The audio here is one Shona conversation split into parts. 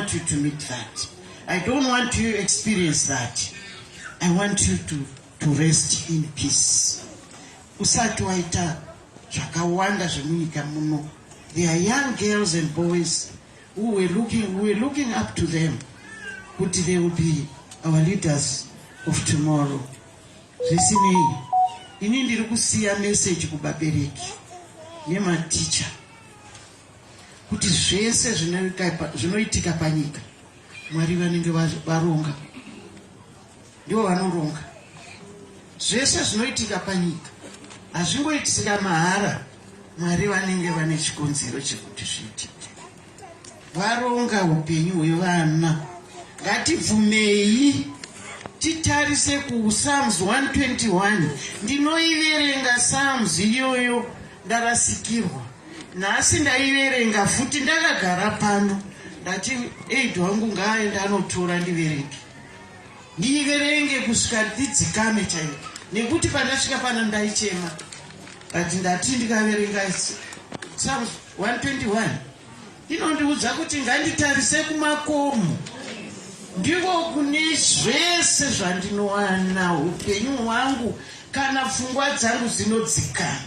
want you to meet that. I don't want you to experience that. I want you to, to rest in peace. Usati waita zvakawanda zvemunyika muno. There are young girls and boys who were looking, we were looking up to them. But they will be our leaders of tomorrow. Zvisinei, ini ndiri kusiya message kubabereki nematicha. kuti zvese zvinoitika panyika mwari vanenge varonga ndivo vanoronga zvese zvinoitika panyika hazvingoitika mahara mwari vanenge vane chikonzero chekuti zviitike varonga upenyu hwevana ngatibvumei titarise kupsalms 121 ndinoiverenga psalms iyoyo ndarasikirwa Nhasi ndaiverenga futi ndakagara pano ndati aid wangu ngaaende anotora ndiverenge ndiverenge kusvika ndidzikame chaiko nekuti pandasvika pana ndaichema but ndati ndikaverenga 121 Inondiudza kuti nganditarise kumakomo ndiko kune zvese zvandinowana upenyu hwangu kana pfungwa dzangu dzinodzikana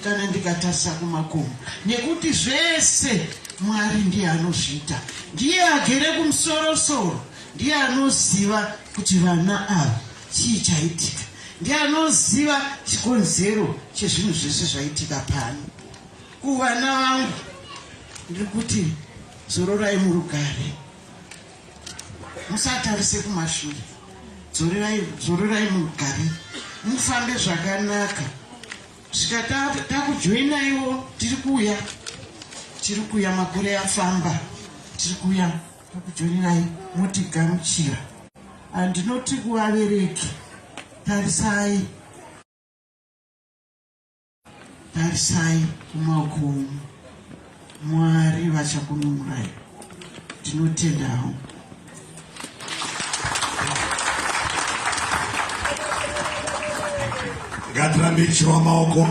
kana ndikatarisa kumakomo nekuti zvese mwari ndiye anozviita ndiye agere kumusorosoro ndiye anoziva kuti vana ava chii chaitika ndiye anoziva chikonzero chezvinhu zvese zvaitika pano Kuvana vangu ndiri kuti zororai murugare, musatarise kumashure, zororai murugare, mufambe zvakanaka. Svika takujoinaiwo, tiri kuuya, tiri kuuya, makore afamba, tiri kuuya takujoinai, motigamuchira. Andinoti kuvabereki, tarisai Tarisai kumakomo, Mwari vachakununurai. Tinotenda hau. Ngatirambe tichiwa maoko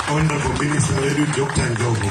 honorable minister vedu Dr. Ndlovu.